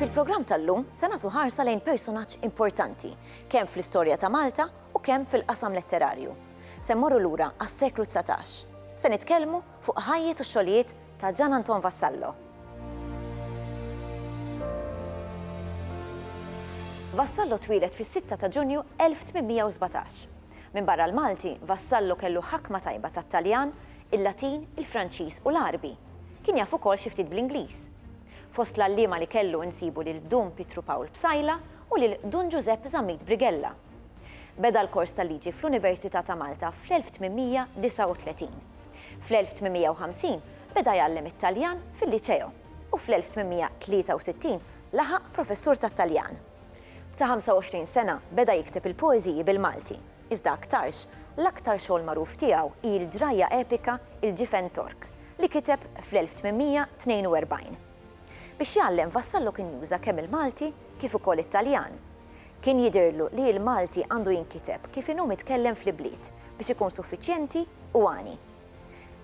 Fil-programm tal-lum se nagħtu ħarsa lejn personaġġ importanti, kemm fl-istorja ta' Malta u kemm fil-qasam letterarju. Se mmorru lura għas-seklu 19. Se nitkellmu fuq ħajjet u xogħlijiet ta' Ġan Anton Vassallo. Vassallo twilet fis-6 ta' Ġunju 1817. Minbarra l-Malti, Vassallo kellu ħakma tajba tat-Taljan, il-Latin, il-Franċiż u l-Għarbi. Kien jaf ukoll xi ftit bl-Ingliż. Fost l-għalliema li kellu insibu lil Dun Pietru Pawl Psaila u lil Dun Ġużepp Zammit Brigella. Beda l-kors tal-liġi fl-Università ta' Malta fl-1839. Fl-1850 beda jgħallem it-Taljan fil-Liceo u fl-1863 laħaq professur tat-Taljan. Ta' 25 sena beda jikteb il-poeżiji bil-Malti, iżda aktarx, l-aktar xogħol magħruf tiegħu hi l-ġrajja epika Il-Ġifen Tork, li kiteb fl-1842. Biex jgħallem Vassallo kien juża kemm il-Malti kif ukoll it-Taljan. Kien jidhirlu li l-Malti għandu jinkiteb kif inhu mitkellem fl-ibliet biex ikun suffiċjenti u għani.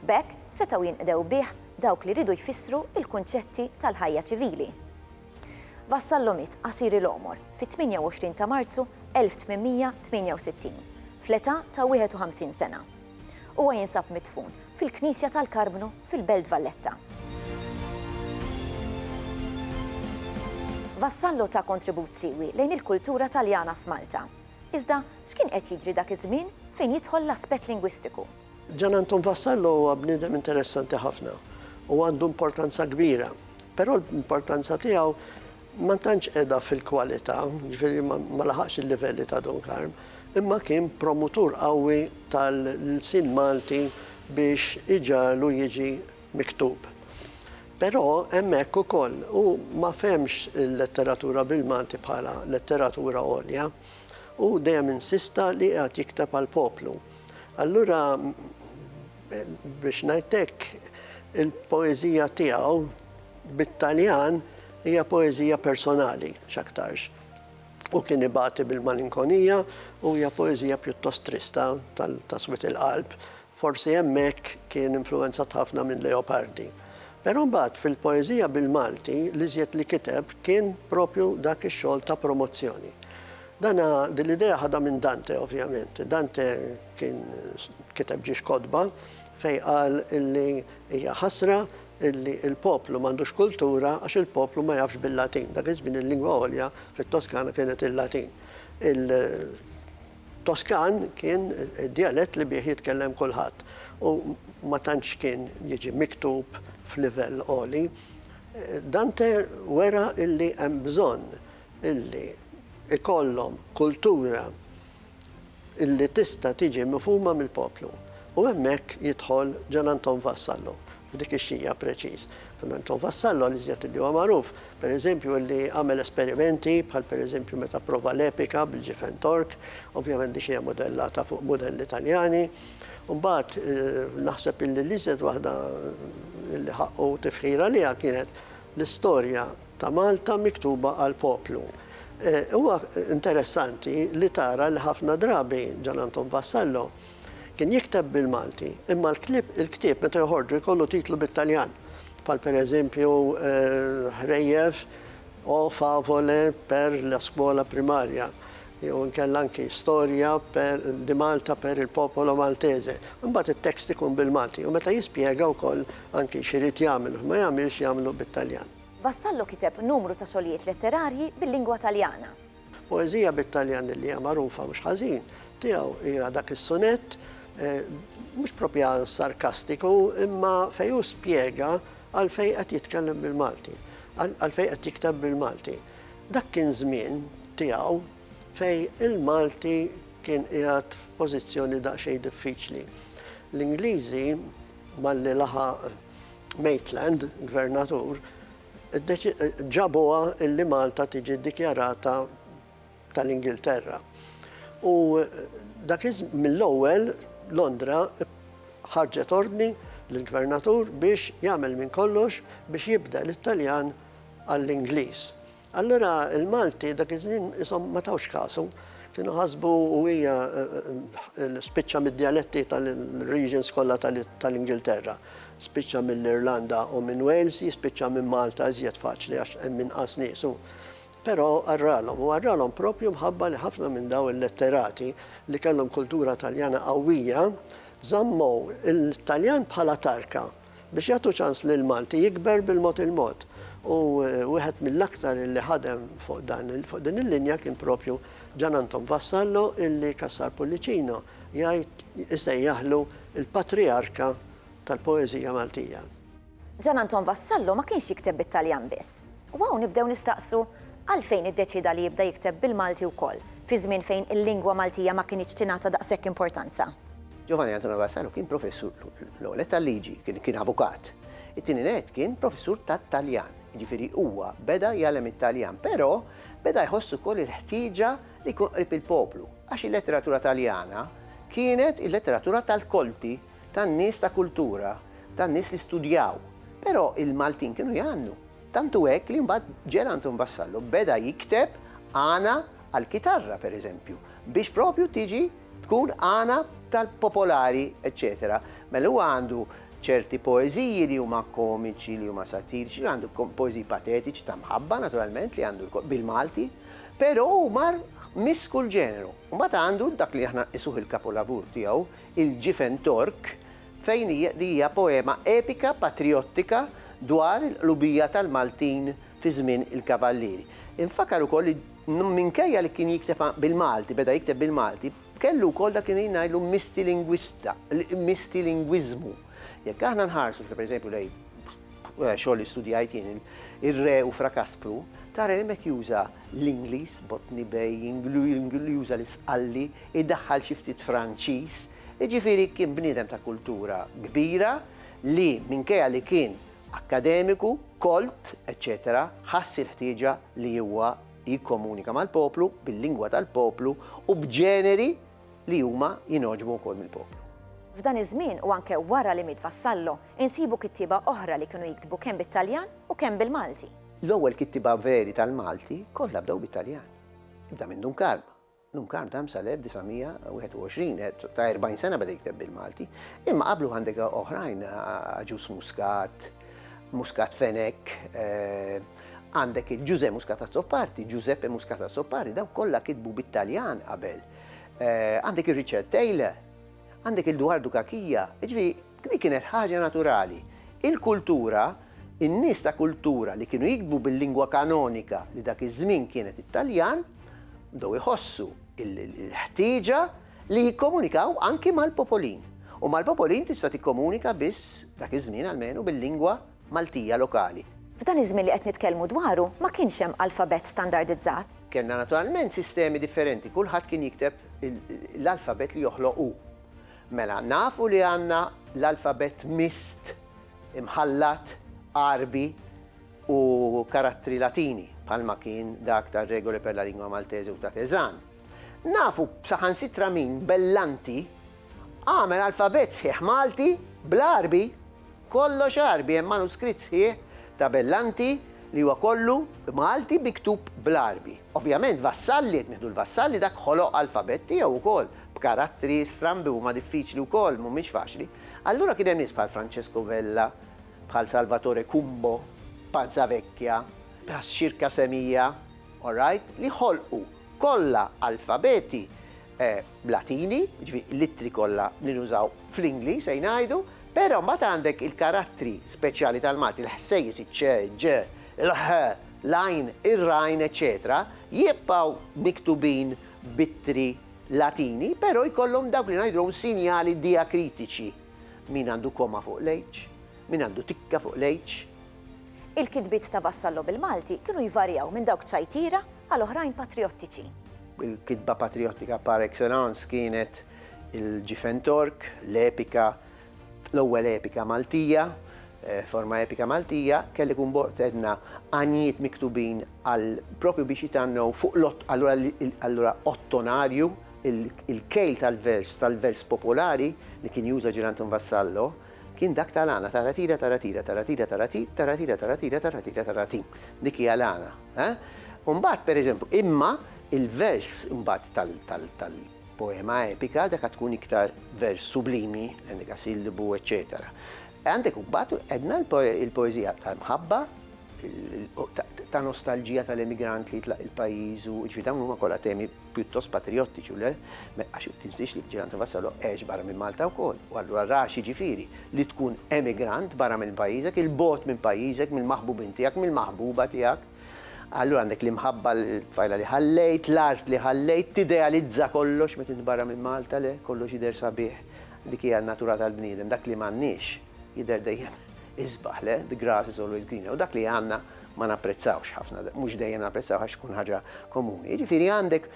B'hekk setgħu jinqdew bih dawk li riedu jfissru l-kunċetti tal-ħajja ċivili. Vassallo miet qasir il-għomor fit-28 ta' Marzu 1868, fl-età ta' 51 sena. Huwa jinsab midfun fil-Knisja tal-Karbnu fil-Belt Valletta. Vassallo ta kontribut siewi lejn il-kultura Taljana f'Malta. Iżda x'kien qed jiġri dak iż-żmien fejn jidħol l-aspett lingwistiku? Gian Anton Vassallo huwa bniedem interessanti ħafna u għandu importanza kbira, però l-importanza tiegħu ma tantx qiegħda fil-kwalità, jiġifieri ma laħaqx il-livelli ta' Dun Karm, imma kien promutur qawwi tal-lsien Malti biex iġagħlu jiġi miktub. Però hemmhekk ukoll hu ma fehmx il-letteratura bil-Malti bħala letteratura għolja. Hu dejjem insista li qiegħed jikteb għall-poplu. Allura biex ngħid hekk, il-poeżija tiegħu bit-Taljan hija poeżija personali x'aktarx. U kien ibati bil-malinkonija u hija poeżija pjuttost trista tal-taswit il-qalb. Forsi hemmhekk kien influwenzat ħafna minn Leopardi. Però mbagħad fil-poeżija bil-Malti l-iżjed li kiteb kien propju dak ix-xogħol ta' promozzjoni. Dan din l-idea ħadha minn Dante ovvjament. Dante kien kiteb ġiex kotba fejn qal illi hija ħasra illi l-poplu m'għandux kultura għax il-poplu ma jafx bil-Latin. Dak iż-żmien il-lingwa għolja fit-Toskana kienet il-Latin. Il-Toskan kien id-djalett li bih jitkellem kulħadd u ma tantx kien jiġi miktub f'livell għoli. Dante wera illi hemm bżonn illi jkollhom kultura illi tista' tiġi mifhuma mill-poplu. U hemmhekk jidħol Gian Anton Vassallo, f'dik ix-xija preċiż. Gian Anton Vassallo, l-iżjed illi huwa magħruf, pereżempju, illi għamel esperimenti, bħal pereżempju meta pprova l-epika bil-ġifen Tork, ovvjament dik hija mudellata fuq mudelli Taljani. U mbagħad naħseb illi l-iżjed waħda illi ħaqqu tifħir għaliha kienet l-istorja ta' Malta miktuba għall-poplu. Huwa interessanti li tara li ħafna drabi Gian Anton Vassallo kien jikteb bil-Malti imma l-ktieb meta joħorġu jkollu titlu bit-Taljan bħal per eżempju Ħrejjef o favole per la scuola primaria jew inkella anki Storja per di Malta per il popolo maltese. Imbagħad it-tekst ikun bil-Malti u meta jispjega wkoll anki x'irid jagħmel u x'ma jagħmilx jagħmlu bit-Taljan. Vassallo kiteb numru ta' xogħlijiet letterarji bil-lingwa Taljana. Poeżija bit-Taljan li hija magħrufa mhux ħażin tiegħu hija dak is-sunett, mhux propjan sarkastiku, imma fejn hu spjega għalfejn qed jitkellem bil-Malti, għalfejn qed jikteb bil-Malti. Dak kien żmien tiegħu fejn il-Malti kien qiegħed f'pożizzjoni daqsxejn diffiċli. L-Ingliżi, malli laħaq, Maitland, Gvernatur, ġabuha illi Malta tiġi ddikjarata tal-Ingilterra. U dak mill-ewwel Londra ħarġet ordni lill-Gvernatur biex jagħmel minn kollox biex jibdel it-Taljan għall-Ingliż. Allura l-Malti dak iż-żmien qishom ma tawx kasu. Kienu ħasbu u hija spiċċa mid-djaletti tal-regions kollha tal-Ingilterra. Spiċċa mill-Irlanda u minn Wales, jispiċċa minn Malta iżjed faċli għax hemm inqas nies u. Però qarralhom, u qarralhom proprju mħabba li ħafna minn daw il-letterati li kellhom kultura Taljana qawwija, żammu l-Taljan bħala tarka. biex jagħtu ċans lill-Malti jikber bil-mod il-mod u wieħed mill-aktar illi ħadem fuq dan fuq din il-linja kien propju Gian Anton Vassallo illi Cassar Pullicino jgħid isejjaħlu l-patrijarka tal-poeżija Maltija. Gian Anton Vassallo ma kienx jikteb bit-Taljan biss. U hawn nibdew nistaqsu, għalfejn iddeċieda li jibda jikteb bil-Malti wkoll, fi żmien fejn il-lingwa Maltija ma kinitx tingħata daqshekk importanza? Giovanni Antonio Vassallo kien professur, l-ewwel nett tal-liġi, kien avukat. It-tieni nett kien professur tat-Taljan, jiġifieri huwa beda jgħallem it-Taljan, però beda jħoss ukoll il-ħtieġa li jkun qrib il-poplu, għax il-letteratura Taljana kienet il-letteratura tal-kolti, tan-nies ta' kultura, tan-nies li studjaw. Però il-Maltin kienu jgħannu. Tant hu hekk li mbagħad Ġela Anton Vassallo beda jikteb għana għall-kitarra, per eżempju, biex propju tiġi tkun għana tal-popolari, eċċetera. Mela huwa għandu ċerti poeżiji li huma komiċi, li huma satiriċi, għandu poeżiji patetiċi ta' mħabba naturalment li għandu bil-Malti, però hu mar miss kull ġeneru. Mbagħad għandu dak li aħna isuh il-kapolavur tiegħu, Il-Ġifen Tork, fejn hija li hija poema epika patrijottika dwar il-qlubija tal-Maltin fi żmien il-Kavallieri. Infakkar ukoll li minkejja li kien jikteb bil-Malti, beda jikteb bil-Malti, kellu wkoll dak li ngħidlu mistilinguista, mistilingwiżmu. Jekk aħna nħarsu, pereżempju, lejn xogħol li studjajt jien, ir-re u fra Kaspru, tara hemmhekk juża l-Ingliż, Botni Bej, juża l-Isqalli, idaħħal xi ftit Franċiż, jiġifieri kien bniedem ta' kultura kbira li minkejja li kien akkademiku, kolt, eċċetera, ħass il-ħtieġa li huwa jikkomunika mal-poplu, bil-lingwa tal-poplu u b'ġeneri, li huma jingħoġbu wkoll mill-poplu. F'dan iż-żmien u anke wara li miet Vassallo, insibu kittieba oħra li kienu jiktbu kemm bit-Taljan u kemm bil-Malti. L-ewwel kittieba veri tal-Malti kollha bdew bit-Taljan. Ibda minn Dun Karm. Dun Karm dam sal-1921, għedt ta' 40 sena beda jikteb bil-Malti, imma qablu għandek oħrajn, Agius Muscat, Muscat Fenech, għandek il-Ġużè Muscat Azzopardi, Giuseppe Muscat Azzopardi, daw kollha kitbu bit-Taljan qabel. Għandek il-Richard Taylor, għandek il-Duardu Kakija, ġvi, dik kienet ħaġa naturali. Il-kultura, in-nies ta' kultura li kienu jiktbu bil-lingwa kanonika li dak iż-żmien kienet it-Taljan, bdew iħossu l-ħtieġa li jikkomunikaw anki mal-popolin, u mal-popolin tista' tikkomunika biss, dak iż-żmien almenu, bil-lingwa Maltija lokali. F'dan iż-żmien li qed nitkellmu dwaru ma kienx hemm alfabett standardizzat. Kellna naturalment sistemi differenti, kulħadd kien jikteb l-alfabett li joħloq hu. Mela, nafu li għandna l-alfabett mist, imħallat, Għarbi u karattri Latini, bħalma kien dak tar-Regole per la lingua maltese u ta' Cézanne. Nafu saħansitra min Bellanti għamel alfabett sħiħ Malti bl-Għarbi! Kollox Għarbi, hemm manuskritt sħiħ ta' Bellanti li huwa kollu Malti miktub bl-Għarbi. Ovvjament Vassalli, jekk nieħdu 'l Vassalli, dak ħoloq alfabett tiegħu wkoll, b'karattri strambi huma diffiċli wkoll, mhumiex faċli. Allura kien hemm nies bħal Francesco Vella, bħal Salvatore Cumbo, Pazzavecchia, Bhas Circasemia, all right, li ħolqu Kollha alfabeti Latini, jiġifieri l-ittri kollha li nużaw fl-Ingliż se ngħidu, però mbagħad għandek il-karattri speċjali tal-Malti, il-ħsejjes, iċ-ċ, ġ, il-ħ, l-għajn, ir-rajn, eċċetera, jibqgħu miktubin b'ittri Latini, però jkollhom dawk li ngħidulhom sinjali diakritiċi. Min għandu koma fuq l-h, min għandu tikka fuq l-h. Il-kitbiet ta' Vassallo bil-Malti kienu jvarjaw minn dawk ċajtira għal oħrajn patrijottiċi. Il-kitba patrijottika par excellence kienet il-Ġifen Tork, l-epika, l-ewwel epika Maltija, eh, forma epika Maltija, kelli kun bort edna għanjiet miktubin għal propju biex jitannu fuq l-ott, allura ottonarju, il-kejl tal-vers, tal-vers popolari li kien juża ġirantum Vassallo, Kien dak ta' Lana, taratira taratira, taratira tarati, taratira taratira, taratira tarati. Dik hija Lana. U mbagħad, per eżempju, imma il-vers mbagħad tal-poema epika dak għad tkun iktar vers sublimi, l-endekasillibu, eċċetera. Għandek mbagħad għedna l-poeżija tal-mħabba, ta' nostalġija tal-emigrant li jitlaq il-pajjiżu, ġifieri dawn huma kollha temi pjuttost patrijottiċi u le, għax tinsiex li l-ġiran ta' Vassallo għex barra minn Malta wkoll, u allura ra x'jiġifieri li tkun emigrant barra minn pajjiżek, 'il bogħod minn pajjiżek, mill-maħbubin tiegħek, mill-maħbuba tiegħek. Allura għandek l-imħabba, l-tfajla li ħallejt, l-art li ħallejt, tidealizza kollox meta int barra minn Malta, le, kollox jidher sabiħ, dik hija n-natura tal-bniedem, dak li m'għandniex jidher dejjem isbaħ, le, the grass is always greener, u dak li għandna, ma napprezzawx ħafna, mhux dejjem napprezzaw għax tkun ħaġa komuni. Jiġifieri għandek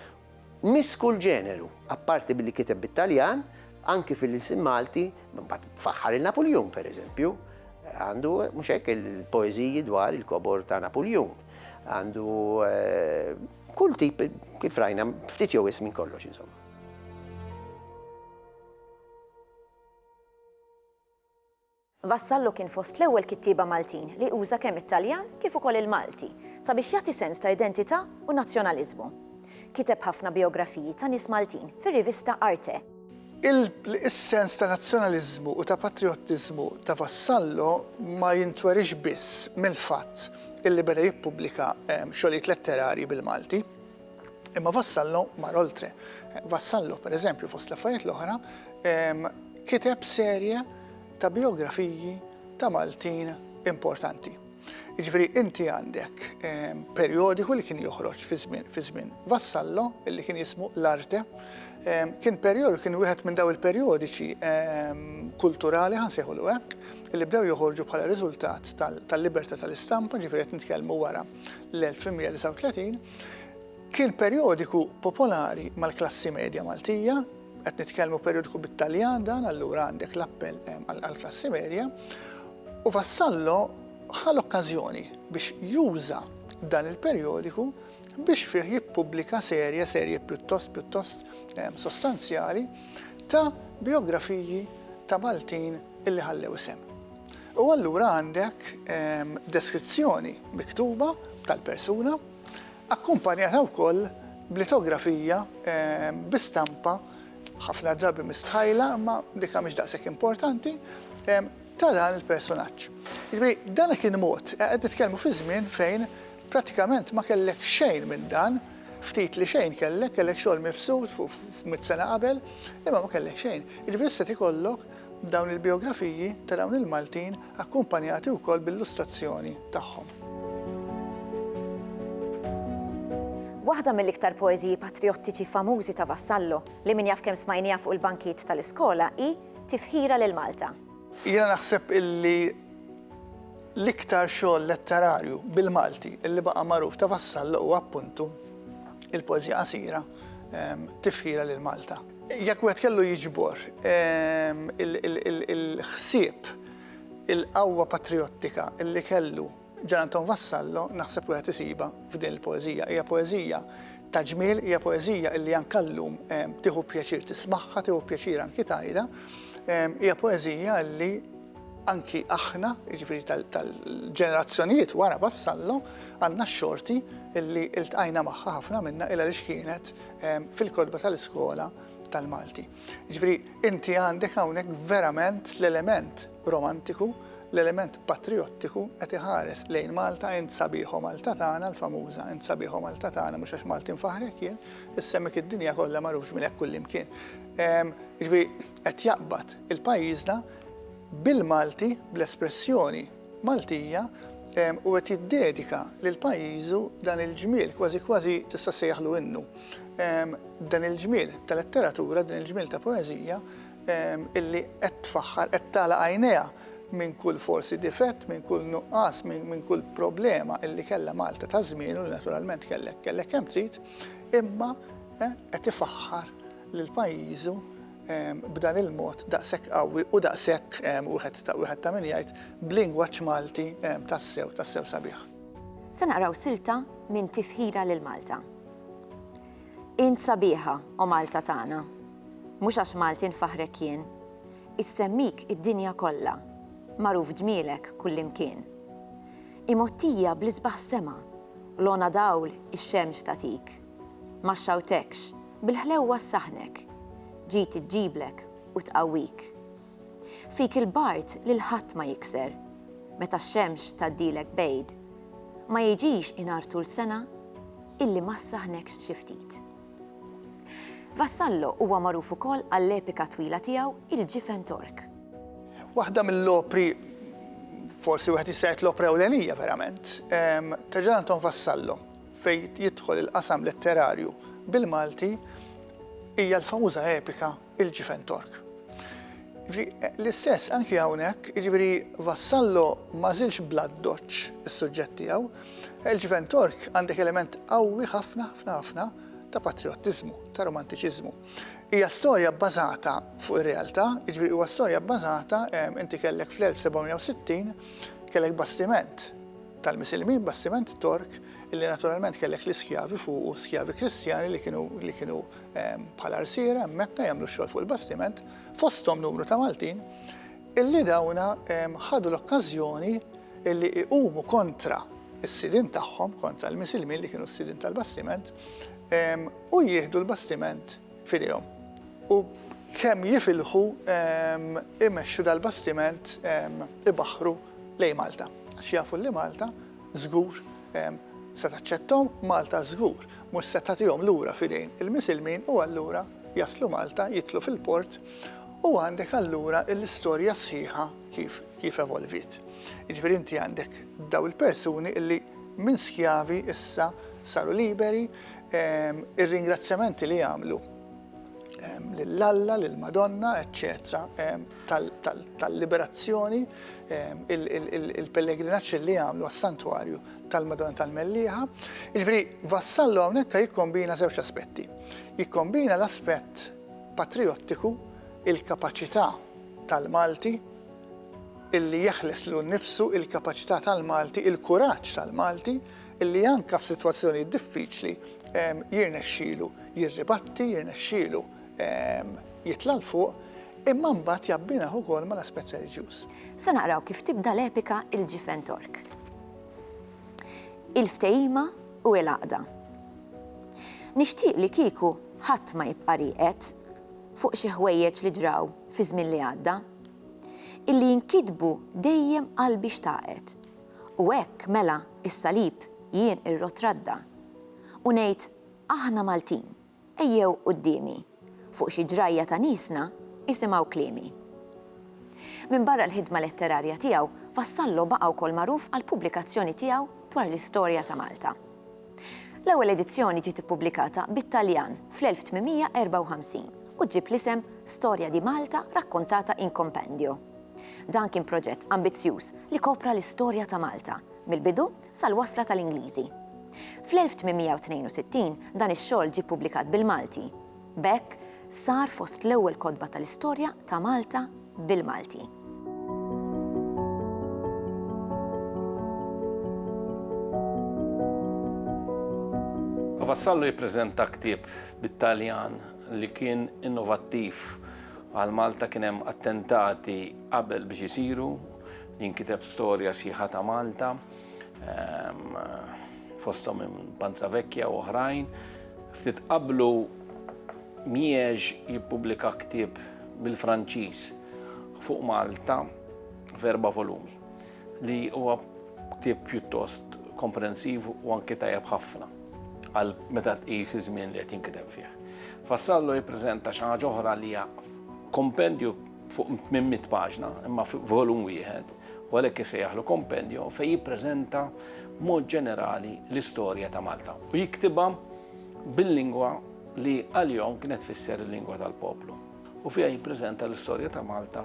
miss kull ġeneru, apparti billi kiteb bit-Taljan, anki fil-ilsien Malti, mbagħad faħħar il-Napuljun pereżempju, għandu mhux hekk il-poeżiji dwar il-kobor ta' Napuljun. Għandu eh, kull tip kif rajna ftit jew ismin kollox insomma. Vassallo kien fost l-ewwel kittieba Maltin li uża kemm it-Taljan kif ukoll il-Malti sabiex jagħti sens ta' identità u nazzjonaliżmu. Kiteb ħafna bijografiji ta' nies Maltin fir-rivista Arte. Is-sens ta' nazzjonaliżmu u ta' patrijottiżmu ta' Vassallo ma jintweriex biss mill-fatt illi beda jippubblika xogħlijiet letterarji bil-Malti. Imma Vassallo mar oltre. Vassallo, per eżempju, fost l-affarijiet l-oħra, kiteb serje ta' bijografiji ta' Maltin importanti. Jiġifieri inti għandek perjodiku li kien joħroġ fi żmien fi żmien Vassallo li kien jismu l-Arte. Kien perjod kien wieħed minn daw il-perjodiċi kulturali ħa nsejħulu hekk li bdew joħorġu bħala riżultat tal-libertà tal-istampa, ġifieri qed nitkellmu wara l-1839, kien perjodiku popolari mal-klassi medja Maltija, qed nitkellmu perjodiku bit-Taljan dan allura għandek l-appell għall-klassi medja, u Vassallo ħa l-okkażjoni biex juża dan il-perjodiku biex fih jippubblika serje, serje pjuttost pjuttost sostanzjali, ta' bijografiji ta' Maltin illi ħallew isem. U allura għandek deskrizzjoni miktuba tal-persuna, akkumpanjata wkoll b'litografija bi stampa, ħafna drabi mistħajla, imma dik ha mhix daqshekk importanti, ta' dan il-persunaġġ. Jiġifieri dan kien mod, qed nitkellmu fi żmien fejn prattikament ma kellek xejn minn dan, ftit li xejn kellek, kellek xogħol mifsud fuq mitt sena qabel, imma ma kellek xejn. Jiġifieri issa qed ikollok Dawn il-bijografiji ta' dawn il-Maltin akkumpanjati wkoll b'illustrazzjoni tagħhom. Waħda mill-iktar poeżiji patrijottiċi famużi ta' Vassallo, li min jaf kemm smajniha fuq il-bankijiet tal-iskola, hi Tifħira lil Malta. Jiena naħseb illi l-iktar xogħol letterarju bil-Malti illi baqa' magħruf ta' Vassallo huwa appuntu l-poeżija qasira Tifħira lil Malta. Jekk wieħed kellu jiġbor il-ħsieb, il-qawwa patrijottika li kellu Ġan Anton Vassallo naħseb wieħed isibha f'din il-poeżija. Hija poeżija ta' ġmiel, hija poeżija li anke llum tieħu pjaċir tismagħha, tieħu pjaċir anki tgħidha. Hija poeżija li anki aħna, jiġifieri tal-ġenerazzjonijiet wara Vassallo, għandna x-xorti li ltqajna magħha ħafna minnha il għaliex kienet fil-kotba tal-iskola tal-Malti. Ġifri, inti għandek hawnhekk verament l-element romantiku, l-element patriottiku qed iħares lejn Malta int sabiħo Malta tagħna l-famuża, int sabiħo Malta tagħna mhux għax Malti nfaħrek jien, issemmek id-dinja kollha magħrufx minn hekk kullimkien. Ġifri, qed jaqbad il-pajjiżna bil-Malti, bl-espressjoni Maltija u qed jiddedika lil pajjiżu dan il-ġmiel, kważi kważi tista' ssejjaħlu innu. Dan il-ġmiel ta' letteratura, din il-ġmiel ta' poeżija illi qed tfaħħar, qed tagħlaq għajnejha minn kull forsi difett, minn kull nuqqas, minn kull problema illi kellha Malta ta' żmienu li naturalment kellek, kellek kemm trid, imma qed ifaħħar lil pajjiżu b'dan il-mod daqshekk qawwi u daqshekk wieħed ta' min jgħid b'lingwaġġ Malti tassew, tassew sabiħ. Se naqraw silta minn Tifħira lil Malta. Int sabiħa, O Malta tagħna. Mhux għax Malti nfaħħrek jien. Issemmik id-dinja kollha. Magħruf ġmielek kullimkien. Imgħottija bl-isbaħ sema, l-għona dawl ix-xemx tagħtik. Ma xxawtekx, bil-ħlewwa ssaħħnek. Ġiet iġġiblek u tqawwik. Fik il-bard lil ħadd ma jikser. Meta x-xemx tgħaddilek b'għid. Ma jiġix inhar tul sena illi ma ssaħħnekx xi ftit. Vassallo huwa magħruf ukoll għall-epika twila tiegħu Il-Ġifen Tork. Waħda mill-opri, forsi wieħed jista' jgħid l-opra ewlenija verament, ta' Ġan Anton Vassallo. fejn jidħol il-qasam letterarju bil-Malti hija l-famuża epika Il-Ġifen Tork. L-istess anki hawnhekk, jiġifieri Vassallo ma żilx bl-addoċċ is-suġġett tiegħu, Il-Ġifen Tork għandek element qawwi ħafna ħafna ħafna ta' patrijottiżmu, ta' romantiċiżmu. Hija storja bbażata fuq ir-realtà, jiġifieri huwa storja bbażata, inti kellek fl-1760 kellek bastiment, tal-Misilmin, bastiment Tork li naturalment kellek l-iskjavi fuqu, skjavi Kristjani li kienu li kienu bħala rsiera hemmhekk jagħmlu x-xogħol fuq il-bastiment, fosthom numru ta' Maltin, illi dawna ħadu l-okkażjoni illi iqumu kontra s-sidien tagħhom, kontra l-Misilmin li kienu s-sidien tal-bastiment, u jieħdu l-bastiment. f'idejhom u kemm jifilħu imexxu dal-bastiment ibaħħru lejn Malta għax jafu li Malta żgur se taċċetthom, Malta żgur mhux se tagħtihom lura f'idejn il-Misilmin u allura jaslu Malta, jidħlu fil-port u għandek allura l-istorja sħiħa kif kif evolviet. Jiġifieri inti għandek daw il-persuni illi minn skjavi issa saru liberi, Ir-ringrazzjamenti li jagħmlu lil Alla, lill-Madonna, eċċetera, tal-liberazzjoni, il-pellegrinaġġ li jagħmlu għas-Santwarju tal-Madonna tal-Mellieħa. Jiġifieri Vassallo hawnhekk jikkombina żewġ aspetti. Jikkombina l-aspett patrijottiku, il-kapaċità tal-Malti illi jeħles lilu nnifsu, il-kapaċità tal-Malti, il-kuraġġ tal-Malti illi anke f'sitwazzjonijiet diffiċli jirnexxielu jirribatti, jirnexxielu jitla' 'l fuq, imma mbagħad jabbinah ukoll mal-aspett reliġjuż. Se naqraw kif tibda l-epika Il-Ġifen Tork. Il-ftehima u il-għaqda. Nixtieq li kieku ħadd ma jibqa' rieqed fuq xi ħwejjeġ li ġraw fiż-żmien li għadda. Illi jinkitbu dejjem qalbi xtaqet. U hekk, mela, is-salib, jien irrotradda. U ngħid, Aħna Maltin, ejjew quddiemi, fuq xi ġrajja ta' niesna, isimgħu kliemi. Minbarra l-ħidma letterarja tiegħu, Vassallo baqa' wkoll magħruf għall-pubblikazzjoni tiegħu dwar l-istorja ta' Malta. L-ewwel edizzjoni ġiet ippubblikata bit-Taljan fl-1854 u ġġib l-isem Storia di Malta raccontata in compendio. Dan kien proġett ambizzjuż li kopra l-istorja ta' Malta, mill-bidu sal-wasla tal-Ingliżi. Fl-1862 dan ix-xogħol ġie ppubblikat bil-Malti. B'hekk, sar fost l-ewwel kotba tal-istorja ta' Malta bil-Malti. Vassallo jippreżenta ktieb bit-Taljan. li kien innovattiv għal Malta kien hemm attentati qabel biex isiru, jinkiteb storja sħiħa ta' Malta, ehm, fosthom minn Panza Vecchia u oħrajn. Ftit qablu Miex jippubblika ktieb bil-Franċiż fuq Malta f'erba' volumi. li huwa ktieb pjuttost komprensiv u anke tajjeb ħafna għal meta tqis iż-żmien li qed jinkiteb fih. Fassallo jippreżenta xi ħaġa oħra li hija kompendju fuq 800 paġna, imma volum wieħed, u għalhekk isejjaħlu kompendju fejn jippreżenta mod ġenerali l-istorja ta' Malta. U jiktibha bil-lingwa li għal-jom kienet fisser il-lingwa tal-poplu. U fija jippreżenta l-istorja ta' Malta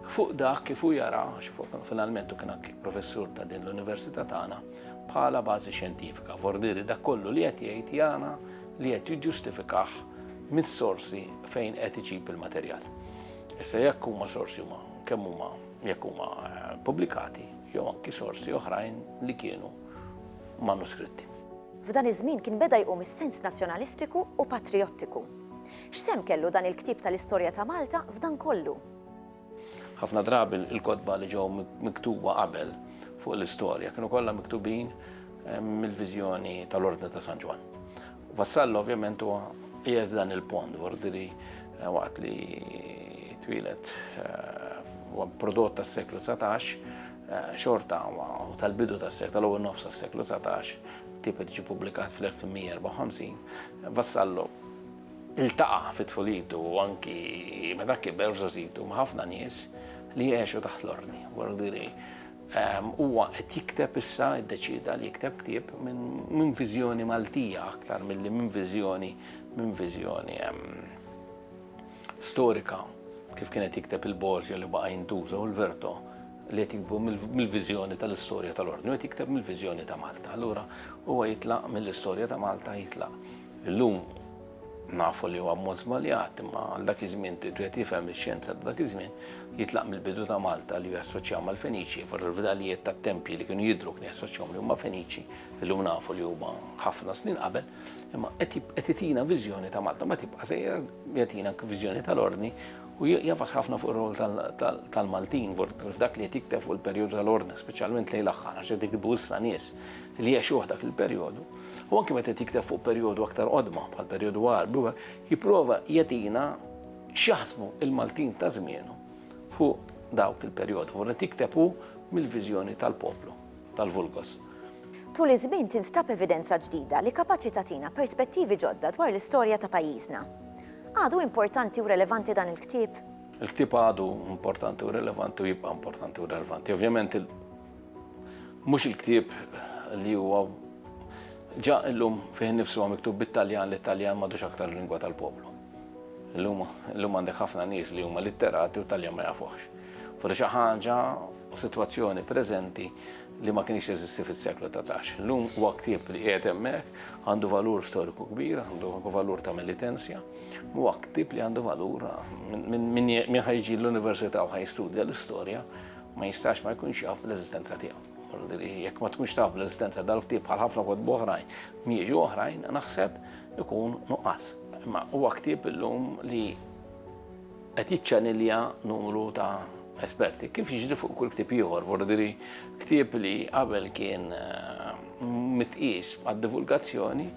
fuq dak kif hu jara, għax finalment hu kien anki professur ta' din l-Università tagħna, bħala bażi xjentifika. Vordiri dak kollu li qed jgħid jara li qed jiġġustifikah mis-sorsi fejn qed iġib il-materjal. Issa jekk huma sorsi huma kemm huma jekk huma eh, pubblikati jew anki sorsi oħrajn li kienu manuskritti. F'dan iż-żmien kien beda jqum is-sens nazzjonalistiku u patrijottiku. X'sehem kellu dan il-ktieb tal-istorja ta' Malta f'dan kollu? Ħafna drabi l-kotba li ġew miktuba qabel fuq l-istorja kienu kollha miktubin mill-viżjoni tal-Ordni ta' San Ġwann. Vassallo ovvjament huwa qiegħed f'dan il-pont f'Ordiri waqt li twieled huwa prodott tas-seklu 19 xorta u tal-bidu tas-seklu tal-ewwel nofs tas-seklu 19 ktieb qed jiġi pubblikat fl-1854 Vassallo ltaqa' fi tfulietu u anki meta kiber f'żgħożitu ma' ħafna nies li għexu taħt l-ordni. Wardieri huwa qed jikteb issa, iddeċieda li jikteb ktieb minn viżjoni Maltija aktar milli minn viżjoni minn viżjoni storika kif kien qed jikteb il-Borzio li baqa' jintuża u l-Verto li qed jiktbu mill-viżjoni tal-istorja tal-Ordni, qed jikteb mill-viżjoni ta' Malta. Allura huwa jitlaq mill-istorja ta' Malta jitlaq. Illum nafu li huwa mod żbaljat, imma għal dak iż-żmien tridu qed jifhem ix-xjenza ta' dak iż-żmien, jitlaq mill-bidu ta' Malta li jassoċjaw mal-Feniċi, fil-fdalijiet tat-tempji li kienu jidhru kien jassoċjahom li huma Feniċi, illum nafu li huma ħafna snin qabel, imma qed itina viżjoni ta' Malta, ma tibqa' sejjer jatina viżjoni tal-Ordni U jafas ħafna fuq ir-rwol tal-Maltin f'dak li qed jikteb fuq il-perjodu tal-Ordni, speċjalment lejn l-aħħar, għax qed jiktbu issa nies li għexuh dak il-perjodu. U anki meta qed jikteb fuq perjodu aktar qodma, bħall-perjodu Għarbi, jipprova jagħtina x'jaħsbu l-Maltin ta' żmienu fuq dawk il-perjodi, u qed jikteb hu mill-viżjoni tal-poplu. tal-vulgus. Tul iż-żmien tinstab evidenza ġdida li kapaċi tagħtina perspettivi ġodda dwar l-istorja ta' pajjiżna. Għadu importanti u relevanti dan il-ktieb? Il-ktieb għadu importanti u relevanti u jibqa' importanti u relevanti. Ovvjament mhux il-ktieb li huwa ġa illum fih nifsu huwa miktub bit-Taljan li Taljan m'għadux aktar lingwa tal-poplu. Illum għandek ħafna nies li huma litterati u Taljan ma jafuħx. Forsi xi ħaġa u sitwazzjoni preżenti li ma kienx jeżisti fis-seklu ta' tax. Lum huwa ktieb li qiegħed hemmhekk għandu valur storiku kbir, għandu valur ta' militenzja, huwa ktieb li għandu valur minn ħajġi l-università u ħajstudja l-istorja ma jistax ma jkunx jaf l-eżistenza tiegħu. Jekk ma tkunx taf l-eżistenza dal-ktieb bħal ħafna kod boħrajn, mieġu oħrajn, naħseb ikun nuqqas. Ma huwa ktieb illum li qed jiċċanilja numru ta' esperti, kif jiġri fuq kull ktieb ieħor, vordiri ktieb li qabel kien mitqies għad-divulgazzjoni,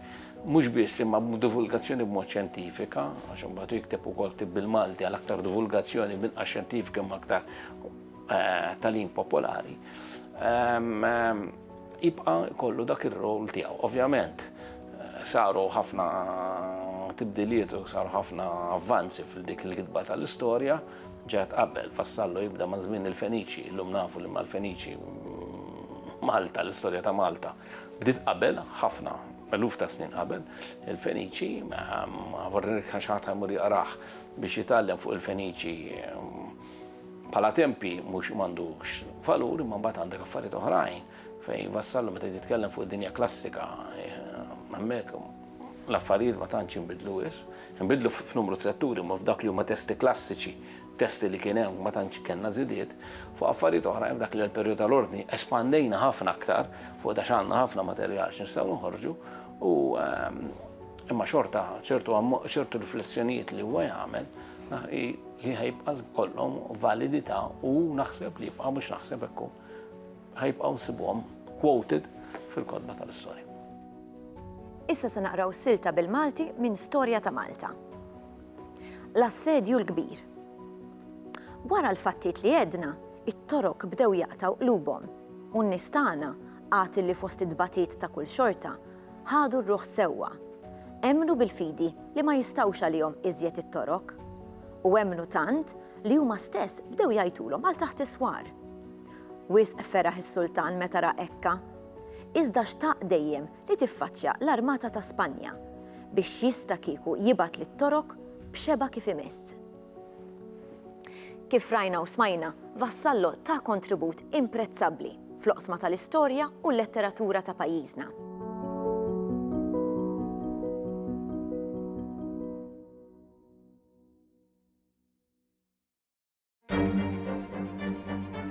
mhux biss imma divulgazzjoni b'mod xjentifika, għax imbagħad jikteb ukoll tib bil-Malti għal aktar divulgazzjoni binqas xjentifika ma aktar eh, talim popolari. Ehm, ehm, jibqa' jkollu dak ir-rol tiegħu. Ovvjament, saru ħafna tibdiliet u saru ħafna avvanzi fil-dik il-kitba tal-istorja, ġeħet qabel, Vassallo jibda ma' żmien il-Feniċi, illum nafu li mal-Feniċi Malta, l-istorja ta' Malta, bdiet qabel, ħafna, eluf ta' snin qabel, il-Feniċi, vorrek għax ħadd ħajmur jaqrah biex jitgħallem fuq il-Feniċi Bħala tempji mhux m'għandux valur imma mbagħad għandek affarijiet oħrajn fejn Vassallo meta jitkellem fuq id-dinja klassika hemmhekk l-affarijiet ma tantx inbidlu wis, inbidlu f'numru setturi ma f'dak li huma testi klassiċi, testi li kien hemm ma tantx kellna żidiet, fuq affarijiet oħrajn f'dak li l-perjodu tal-ordni espandejna ħafna aktar fuq da x'għandna ħafna materjal x'nistgħu nħorġu u ehm, Imma xorta ċertu ċertu riflessjonijiet li huwa jagħmel li ħajbqa' kollhom validità u naħseb li jibqa' mhux naħseb hekk ħajbqgħu nsibuhom quoted fil-kodba tal-istorja. Issa se naqraw silta bil-Malti minn Storja ta' Malta. L-assedju l-kbir. Wara l-fattiet li għedna, it-torok bdew jaqtaw qlubhom u n-nistana għad li fost id-batiet ta' kull xorta Ħadu r-ruħ sewwa. Emmnu bil-fidi li ma jistgħux għalihom iżjed it-torok. U emmnu tant li huma stess bdew jgħajtulhom għal taħt is-swar. Wisq feraħ is-sultan meta ra hekka. Iżda xtaq dejjem li tiffaċċja l-armata ta' Spanja biex jista' kieku jibgħat lit-Torok b'xebgħa kif imiss. Kif rajna u smajna, Vassallo ta kontribut imprezzabbli fl-oqsma tal-istorja u l-letteratura ta' pajjiżna.